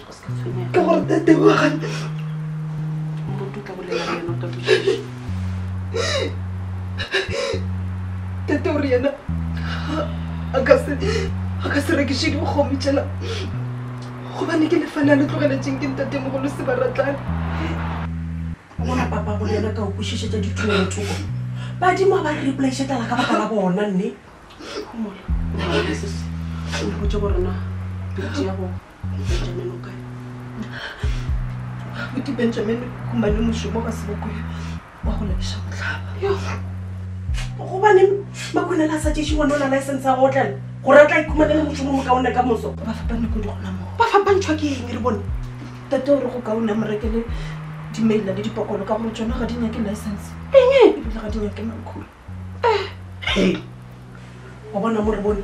ke gore tate wa ga tate gore yena a ka se a ka se rekiše dikgomo tšela gobane ke lefane a le tlogeletseng ke ntate mogolo se ba ratlane bona papa go lena ka o kwešišetša dithulelo thoko badimo a ba re repolaise tala ka baka la bona nne mpotse gorena pete ya go Benjamin o kae? Abuti Benjamin gomane mošomo ga se bokoya wa go lebeša mohlaba. Gobane makhonela a sa tšeše gone o na license ya go otlela gore a tla ikhumane le mošomo mokaone ka moso. Ba fapane kodi gona moo? Ba fapantšhwa ke eng re bone? Tate o re go kaone a mo rekele dimeila le dipokolo ka gore tšona ga di nyake license. Eng? Ebile ga di nyake makhura. Wa bona mo re bone?